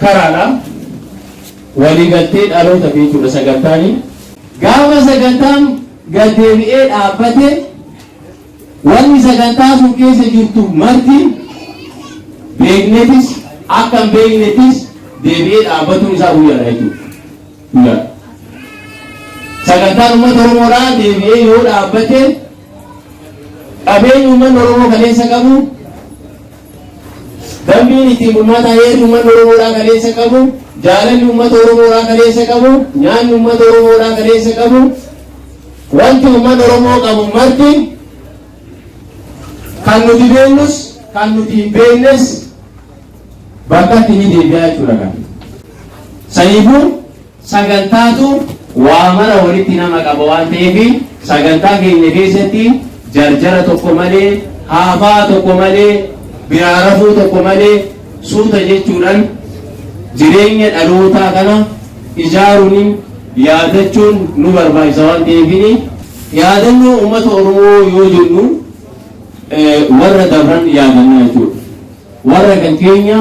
karaadha. Waliigaltee dhalootafi jechuudha sagantaani. Gaafa sagantaan gad deebi'ee dhaabbate wanni sagantaa sun keessa jirtu marti beeknetis akka hin beeknetis deebi'ee dhaabbatuun isaa guyyaadha jechuudha. Guyyaadha. Sagantaan uummata Oromoodhaa deebi'ee yoo dhaabbate qabeenyi uummanni Oromoo kaleessa qabu Dambiin ittiin bulmaataa heerri uummanni Oromoodhaa kaleessa qabu, jaalalli uummata Oromoodhaa kaleessa qabu, nyaanni uummata Oromoodhaa kaleessa qabu, wanti uummanni Oromoo qabu marti kan nuti beeknus kan nuti hin beeknes bakkatti ni deebi'aa jechuudha kan. Saniifuu Sagantaatu waa mara walitti nama qaba waan ta'eef sagantaa keenya keessatti jarjara tokko malee, haafaa tokko malee, biraa rafuu tokko malee suuta jechuudhaan jireenya dhalootaa kana ijaaruun yaadachuun nu barbaachisa waan ta'eefini. Yaadannoo uummata Oromoo yoo jennu warra dabran yaadannaa jechuudha. Warra kan keenya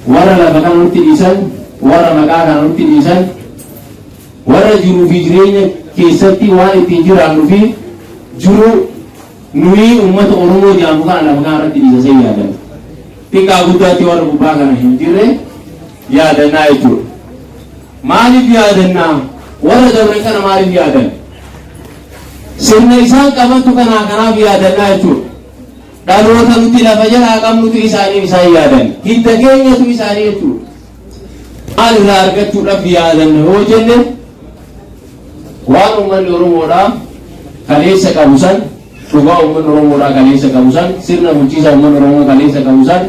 Warra lafa kana nutti dhiisan, warra maqaa kana nutti dhiisan, warra jiruu fi jireenya keessatti waan ittiin jiraannu fi jiruu nuyi uummata Oromoo jedhamu kana lafa kana irratti dhiisa san yaadan. Xiqqaa guddaatti warra gubbaa kana hin jirre yaadannaa jechuudha. Maaliif yaadannaa? Warra dabran kana maaliif yaadan? Sirna isaan qabantu kanaa kanaaf yaadannaa jechuudha. Dhaloota nuti lafa jalaa qabnutu isaaniif isaan yaadan. Hidda keenyatu isaanii jechuudha. Maal irraa argachuudhaaf yaadanna yoo jenne waan uummanni Oromoodhaa kaleessa qabu san dhugaa uummanni Oromoodhaa kaleessa qabu san sirna bulchiisa uummanni Oromoo kaleessa qabu san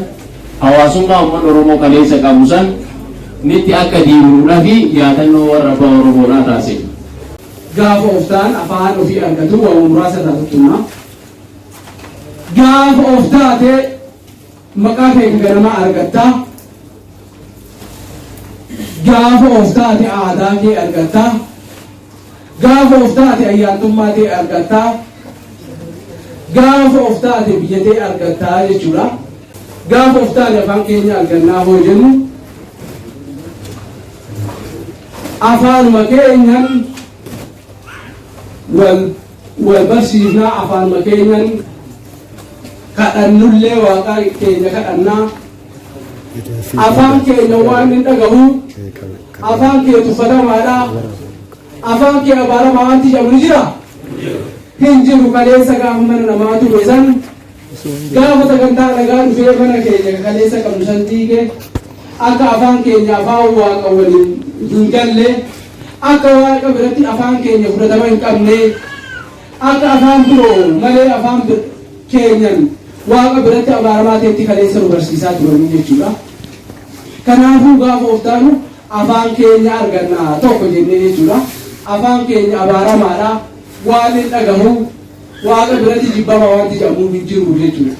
hawaasummaa uummanni Oromoo kaleessa qabu san nitti akka diimuudhaa fi yaadannoo warra abbaa Oromoodhaa taasifna. Gaafa of ta'an afaan ofii argatu waa muraasa irraa tuttuqna. Gaafa of taate maqaa kee ka ganamaa argatta. Gaafa of taate aadaa kee argatta. Gaafa of taate ayyaantummaa kee argatta. Gaafa of taate biyya kee argatta jechuudha. Gaafa of taate afaan keenya argannaa hoo jennu afaanuma keenyan wal Wal barsiifnaa afaanuma keenyan kadhannullee waaqaa keenya kadhannaa afaan keenya waan hin dhagahu afaan kee tuffatamaadha afaan kee abaaramaa wanti jedhamu ni jira hin jiru kaleessa gaafa mana namaa ture san Gaafa sagantaa nagaa dhufee mana keenya ka kaleessa qabnu san diige, akka afaan keenya afaan Waaqa waliin hin galle, akka Waaqa biratti afaan keenya fudhatama hin qabne, akka afaan biroo malee afaan bir keenyan Waaqa biratti abaaramaa ta'etti kaleessa nu barsiisaa turanii jechuudha. Kanaafuu gaafa of taanu afaan keenya arganna tokko jennee jechuudha. Afaan keenya abaaramaadha, waan hin dhagahu, Waaqa biratti jibbama waanti jedhamu hin jiru jechuudha.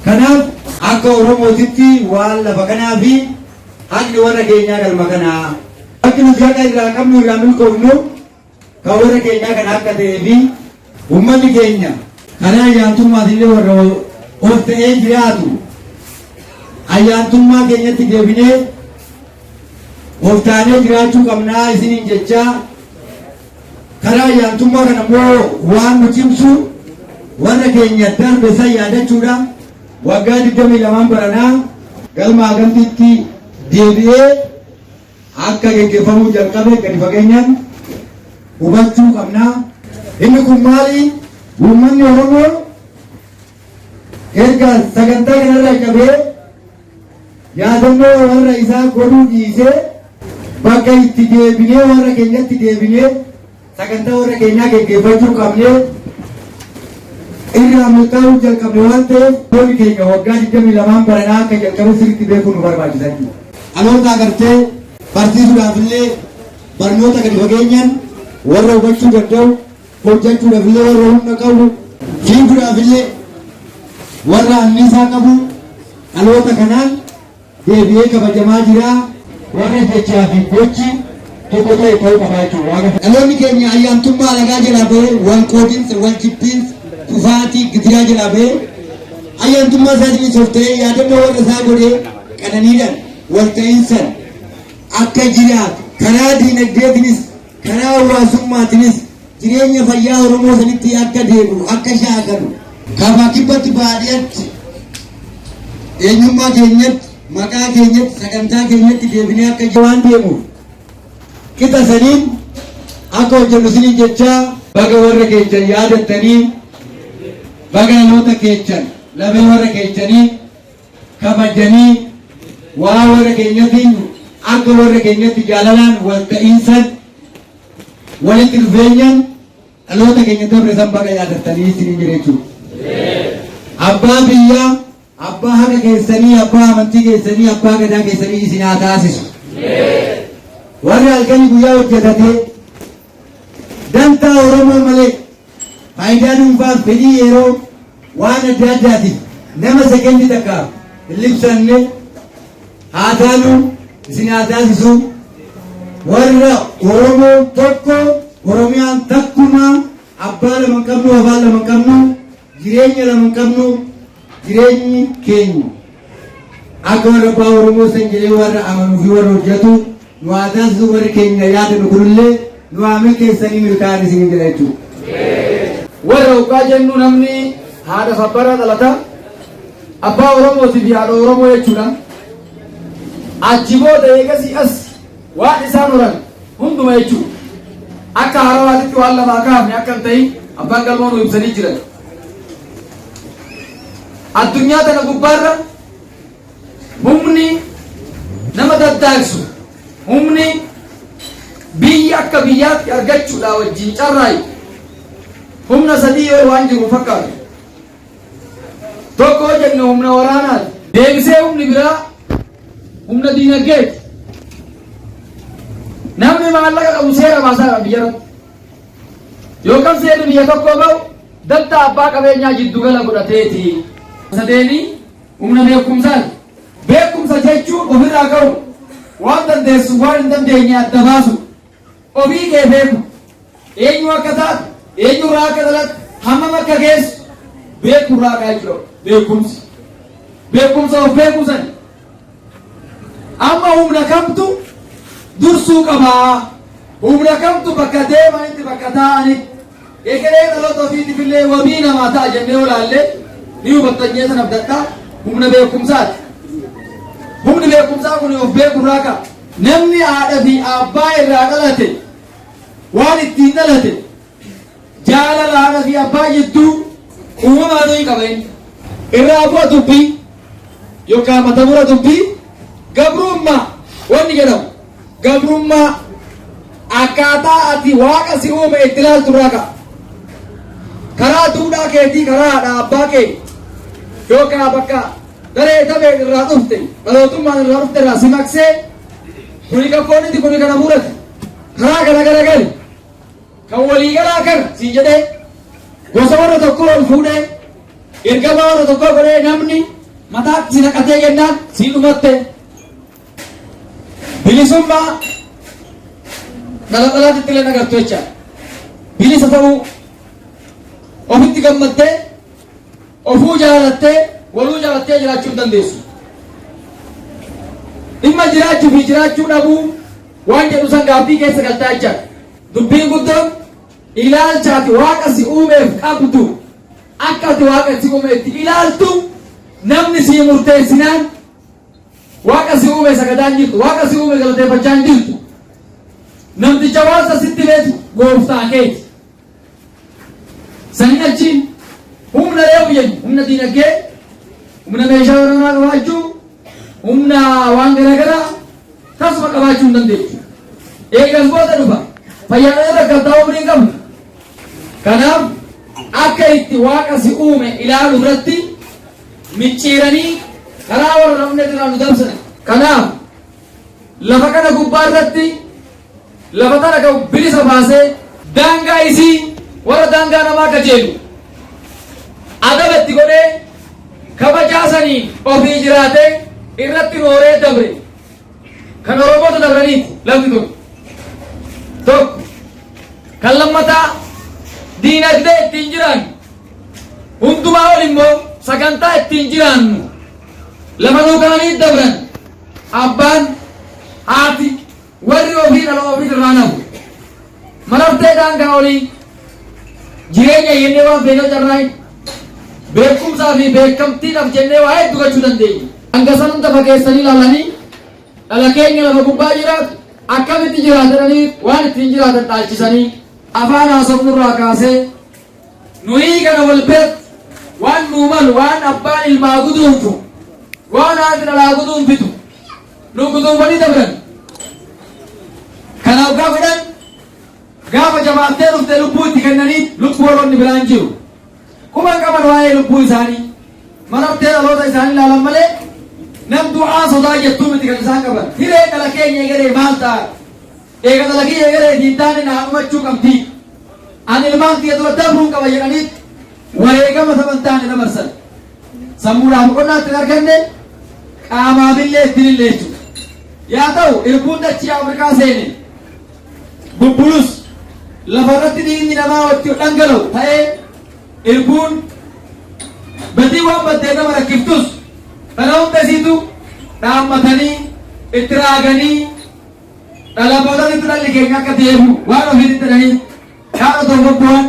Kanaaf akka Oromootitti waan lafa kanaa fi haqni warra keenyaa galma kanaa. Bakki nuti haqa irraa qabnu irraa milkoofnu kan warra keenyaa kan akka ta'ee fi uummanni keenya karaa ayyaantummaas illee warra of ta'ee jiraatu ayyaantummaa keenyatti deebinee of taanee jiraachuu qabnaa isiniin jechaa Karaa ayyaantummaa kana immoo waan nu cimsu warra keenya darbe san yaadachuudhaan waggaa 22 baranaa galma Agamtiitti deebi'ee akka geggeeffamuu jalqabe gadi fageenyaan hubachuu qabna. Inni kun maali? Uummanni Oromoo erga sagantaa kanarraa qabee Yaadannoo warra isaa godhuu dhiisee bakka itti deebinee warra keenyatti deebinee sagantaa warra keenyaa geggeeffachuu qabnee irraa murtaa'uu jalqabne waan ta'eef toonni keenya waggaa 22 baranaa akka jalqabe sirriitti beekuu nu barbaachisa. Dhaloota agartee barsiisuudhaaf illee barnoota gadi fageenyaan warra hubachuu danda'u hojjachuudhaaf illee warra humna qabu, fiiguudhaaf illee warra anniisaa qabu dhaloota kanaan deebi'ee kabajamaa jira. Warri jechaa fi gochi tokko ta'e ta'uu qabaachuu waaqa. Dhaloonni keenya ayyaantummaa alagaa jalaa bahee wal qoodinsa, wal jibbiinsa, kufaatii, gidiraa jalaa bahee ayyaantummaa isaa isinis of ta'ee yaadannoo warra isaa godhee qananiidhaan wal ta'iinsan akka jiraatu karaa diinagdeetinis Karaa hawwaasummaatinis jireenya fayyaa Oromoo sanitti akka deebi'u, akka shaakalu. Kaabaa Kibbatti, Baadiyatti, eenyummaa keenyatti, maqaa keenyatti, sagantaa keenyatti deebinee akka jiraannu. waan deemuuf qixa saniin akka hojjennu isiniin jechaa. Baga warra keechan yaadattanii, baga dhaloota keechan, lafee warra keechanii. kabajanii waa warra keenyatiin akka warra keenyatti jaalalaan wal ta'iinsan walitti dhufeenyan dhaloota keenya dabre san baga yaadattanii isiniin jira jechuudha. Abbaa biyyaa, abbaa haqa keessanii, abbaa amantii keessanii, abbaa gadaa keessanii isin haa taasisu. Warri halkanii guyyaa hojjetatee dantaa Oromoo malee Faayidaa dhuunfaaf fedhii yeroo waan adda addaatiif nama sekendi takkaaf hin libsanne haa taanu isin haa taasisu. Warra Oromoo tokko Oromiyaan takkumaa abbaa lama hin qabnu afaan lama hin qabnu jireenya lama hin qabnu Jireenyi keenya akka warra abbaa Oromoo san jedhee warra amanuu fi warra hojjetu nu haa taasisu warri keenya yaada nu kunillee nu haa milkeessanii milkaa'an isin jedha jechuudha. Warra hoggaa jennu namni haadha sabbara dhalata abbaa Oromootii fi haadha Oromoo jechuudha. Achi booda eegasii as waan isaan horan hunduma jechuudha. Akka haarawaatitti waan lamaa kaafne akka hin ta'in abbaan galmoo nu ibsanii jiran. Addunyaa tana gubbaarra humni nama daddaaqsu humni biyyi akka biyyaatti argachuudhaa wajjin carraayu humna sadii ol waan jiru fakkaatu. Tokko jenne humna waraanaati. Deebisee humni biraa humna diinagdeeti. Namni maallaqa qabu seera baasaa biyya irratti. Yookaan seerri biyya tokkoo ba'u dantaa abbaa qabeenyaa jiddugala godhateeti. Sadeenii humna beekumsaati. Beekumsa jechuun ofirraa ka'u waan dandeessu waan hin dandeenye adda baasu ofii kee beeku eenyu akka taatu eenyu irraa akka dhalattu hammam akka geessu beeku irraa ka'aa jira beekumsi beekumsa of beekumsani Amma humna kamtu dursuu qaba? Humna kamtu bakka deemanitti bakka taa'anitti egeree dhaloota ofiitifillee wabii namaa ta'a jennee yoo ilaalle ni hubattan jee sana abdadhaa humna beekumsaati. Humni beekumsaa kun of beekurraa ka'a. Namni haadha fi abbaa irraa dhalate waan ittiin dhalate Jaalala haadha fi abbaa jidduu uumama aduu hin qaba inni. Irraa bu'a dubbii yookaan mata mura dubbii gabrummaa wanni jedhamu gabrummaa akkaataa ati waaqa si uume itti ilaaltu irraa ka'a. Karaa duudhaa keetii karaa haadha abbaa kee yookaan bakka daree tabee irraa dhufte dhalootummaan irraa dhufte irraa si maqsee kuni kan fooniti kuni kana murati karaa kana garagali. Kan walii galaa kana siin jedhee gosa warra tokkoo ol fuudhee ergamaa warra tokkoo godhee namni mataatti si naqatee kennaan sii dhumatte bilisummaa xalaxalaatti illee nagartu jecha bilisa ta'uu ofitti gammattee ofuu jaalattee waluu jaalattee jiraachuu hin dandeessu. Dhimma jiraachuu fi jiraachuu dhabuu waan jedhu san gaaffii keessa galtaa jechaadha. Dubbiin guddoon ilaalcha ati Waaqa si uumeef qabdu akka ati Waaqa si uume itti ilaaltu namni sii murteessinaan Waaqa si uume sagadaa hin jirtu. Waaqa si uume galateeffachaa hin jirtu. Namticha waasa sitti beetu gooftaa keeti. Saniin achi humna yoo jennu humna diinagdee, humna meeshaa waraanaa qabaachuu, humna waan garaagaraa tasuma qabaachuu hin dandeessu. Eegas booda dhufa fayyaadhaan rakkattaa umrii hin qabnu. Kanaaf akka itti waaqa si uume ilaalu irratti micciiranii karaa warra namni irraa nu dabsan. Kanaaf Lafa kana gubbaa irratti lafa tana ka bilisa baasee. Daangaa isii warra daangaa namaa kajeelu adaba itti godhee kabajaa saniin ofii jiraatee irratti nooree dabre kan Oromoota dabraniiti lafti tun. Tokko kan lammataa diinagdee ittiin jiraannu hundumaa ol immoo sagantaa ittiin jiraannu lafa nuu kaanii dabran. Abbaan, haati, warri ofii dhala ofiit irraa nafu. Maraftee daangaa olii jireenya jennee waan feene carraa hin beekumsaa fi beekamtiidhaaf jennee waa hedduu gochuu dandeenya. Hanga san hunda fageessanii ilaalanii dhala keenya lafa gubbaa jiraatu akkamitti jiraatanii waan ittiin jiraatan dhaalchisanii afaan haasofnurraa kaasee Nu'ii kana wal biratti waan nuu malu waan abbaan ilmaa guduunfu, waan haati dhalaa guduunfitu nuu guduunfanii dabran. Kana oggaa godhan gaafa jabaattee dhufte lubbuu itti kennanii lubbuu warroonni biraa hin jiru. Quba hin qaban waa'ee lubbuu isaanii. Marartee dhaloota isaanii ilaalan malee nam du'aa sodaa jettuu miti kan isaan qaban. Hiree dhala keenya egeree maal ta'a? Eega dalagii eegalee hin taane naa dhumachuu qabdi. An ilmaan kiyya dura dabruun qaba jedhaniit wareegama saba hin taane dabarsan. Sammuudhaa boqonnaa itti hin arganne, qaamaafillee itti hin hille jechuudha. Yaa ta'u irbuun dachii Afrikaa seene bubbulus lafarratti dhiigni namaa watti dhangala'u ta'ee irbuun badii waan baddee nama rakkiftus kana hunda isiitu dhaammatanii itti raaganii Dhalaan boodanitti dhalli keenya akka deebi'u waan ofiitti jedhanii kaan otoo bobbohan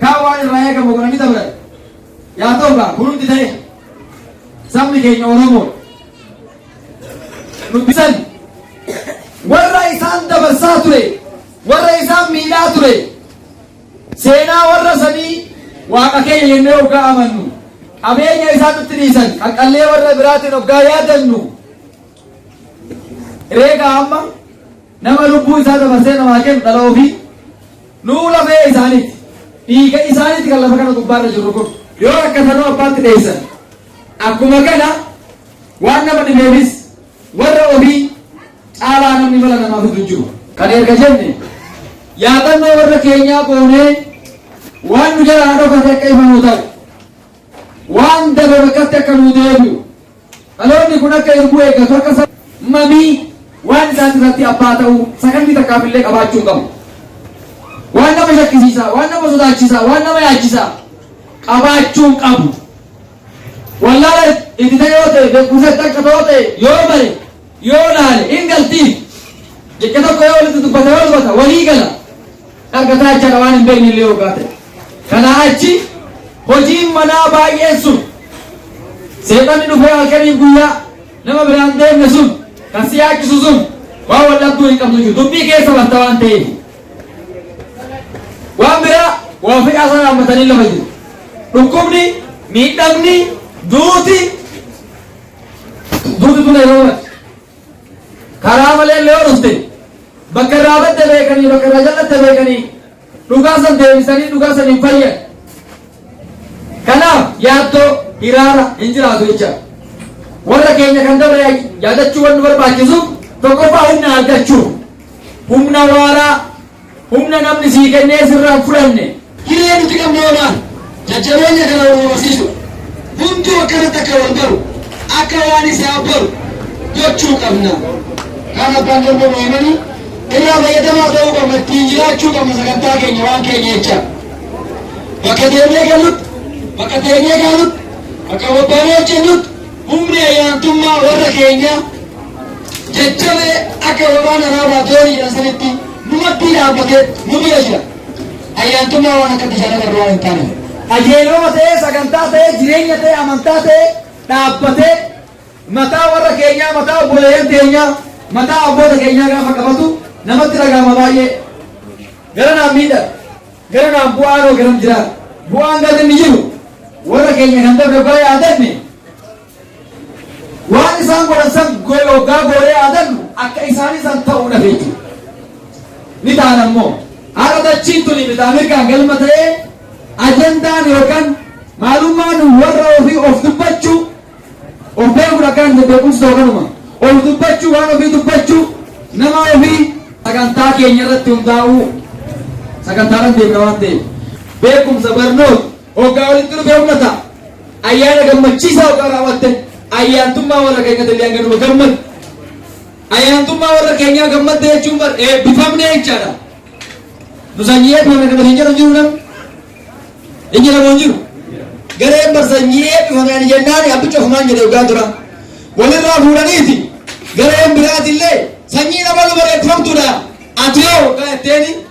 kaan waan irraa eegamu godhanii dabran. Yaa ta'u kaa hundi ta'e sabni keenya Oromoo dubbisan warra isaan dabarsaa ture warra isaan miidhaa ture seenaa warra sanii waaqa keenya jennee hoggaa amannu qabeenya isaan nutti dhiisan qaqqallee warra biraatiin hoggaa yaadannu Eegaa amma nama lubbuu isaa dabarsee namaa kennu dhala ofii nuu lafee isaaniiti. Dhiiga isaaniiti kan lafa kana gubbaarra jiru kun. Yoo rakkatanuu abbaatti dheessan. Akkuma kana waan nama dhibeefis warra ofii caalaa namni mala namaa fidu jiru. Kan erga jenne yaadannoo warra keenyaa goonee waan nu jalaa dhokate akka ifa nuu ta'u waan dabe bakkatti akka nuu deebi'u Dhaloonni kun akka irbuu eeggatu akka sa. mamii waan isaati irratti abbaa ta'uu sakandii takkaaf illee qabaachuu hin qabu. Waan nama shakkisiisaa, waan nama sodaachisaa, waan nama yaachisaa qabaachuu hin qabu. Wallaala itti ta'e yoo ta'e, beekumsa itti akka ta'oo ta'e yoo bare yoo laale in galtiif jecha tokko yoo walitti dubbata yoo dubbata walii gala argataa jechaadha waan hin beekne illee hoggaa ta'e kanaa achi hojiin manaa baay'een sun seexanni dhufee halkaniif guyyaa nama biraan deemne sun kan si yaachisu sun waan wal dhabduu hin qabdu jiru dubbii keessa barta waan ta'eef waan biraa waa ofii haasaan hammatanii lafa jiru dhukkubni miidhamni duuti Duuti kun yeroo mati. Karaa malee illee yoo dhufte bakka irraa badde beekanii bakka irraa jallatte beekanii dhugaa san deebisanii dhugaa san hin fayyan. Kanaaf yaaddoo hiraara hin jiraatu jecha. Warra keenya kan dabre yaadachuu waan nu barbaachisu tokkoffaa humna argachuu humna waaraa Humna namni sii kennee sirraa hin fudhanne. Hiree nuti qabnu hoo maal? Jajjabeenya kana wal barsiisuudha. Hunduu akkanatti akka wal baru, akka waan isaa baru gochuu qabna. Kaan abbaan galma nu himanii irraa fayyadamaa ta'uu qabna, ittiin jiraachuu qabna sagantaa keenya waan keenya jecha. Bakka deemnee gallutti, bakka teenyee gaalutti, bakka bobbaanee hojjennutti humni ayyaantummaa warra keenyaa jajjabee akka waraana raabaa doonii jedhan sanitti nu maddii dhaabbatee nu bira jira. Ayyaantummaa waan akka bishaan irra waan hin taane. Qajeeloma ta'ee sagantaa ta'ee jireenya ta'ee amantaa ta'ee dhaabbatee mataa warra keenyaa mataa obboleeyyan keenyaa mataa abboota keenyaa gaafa qabatu namatti dhagahama baay'ee. Gara naan miidha. Gara naan bu'aan hoo garam jira. Bu'aan gadi ni jiru. Warra keenya kan darbe bara yaadanne Waan isaan godhan san goyo oggaa goonee yaadannu akka isaanii san ta'uu dhabe jechuudha. Ni taana immoo har'a dachiin tuni bitaa mirgaan galma ta'ee ajandaan yookaan maalummaan warra ofii of dubbachuu of beekuun akkaan hin beekumsi ta'u kanuma of dubbachuu waan ofii dubbachuu nama ofii sagantaa keenya irratti hundaa'uu sagantaadhaan deemna waan ta'eef beekumsa barnoota Hoggaa walitti dhufee ummata ayyaana gammachiisaa hoggaa raawwatte ayyaantummaa warra keenya illee hanga numa gammadu. Ayyaantummaa warra keenyaa gammadde jechuun bar eebbifamne jechaadha. Nu sanyii eebbifame kana hin jedhu jiru nam. Hin jedhamu hin jiru. Gareen bar sanyii eebbifame ani jennaan abbicha ofumaan jedhe hoggaa tura. Walirraa fuudhaniiti gareen biraati illee sanyii nama nu bareeffamtuudha. Ati yoo hoggaa jetteeni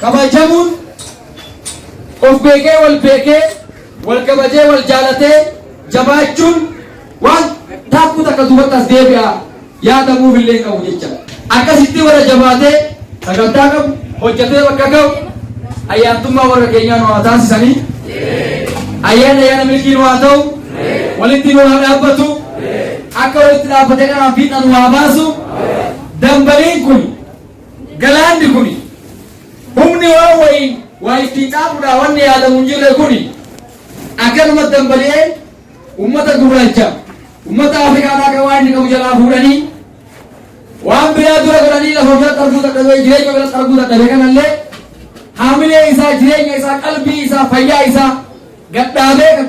Kabajamuun of beekee wal beekee wal kabajee wal jaalatee jabaachuun waan taakkuu takka duubatti as deebi'a yaadamuuf illee hin qabu jecha. Akkasitti warra jabaatee sagantaa qabu hojjetee bakka ga'u ayyaantummaa warra keenyaa nu haa taasisanii ayyaana ayyaana milkii nu haa ta'u walitti nu haa dhaabbatu akka walitti dhaabbatee kanaan fiixaan nu haa baasu dambaliin kun Galaanni kuni humni waan wayii waa ittiin xaaxudhaa wanni yaadamu hin jirre kuni akkanumatti dambali'ee ummata gurraacha ummata Afrikaadhaa kan waan inni qabu jalaa fuudhanii waan biraa dura godhanii lafa biratti arguu dadhabee jireenya biratti arguu dadhabe kanallee haamilee isaa jireenya isaa qalbii isaa fayyaa isaa gadhaabee kan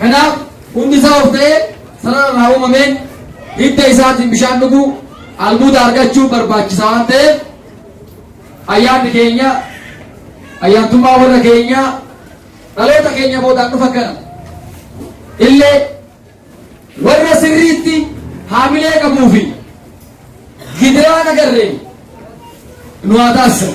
Kanaaf hundi isaa of ta'ee sarara irraa uumameen hidda isaatiin bishaan dhuguu albuuda argachuu barbaachisa waan ta'eef ayyaanni keenya ayyaantummaa warra keenya dhaloota keenya boodaan dhufa kana illee warra sirriitti haamilee qabuu fi gidiraa nagarreen nu haa taasisan.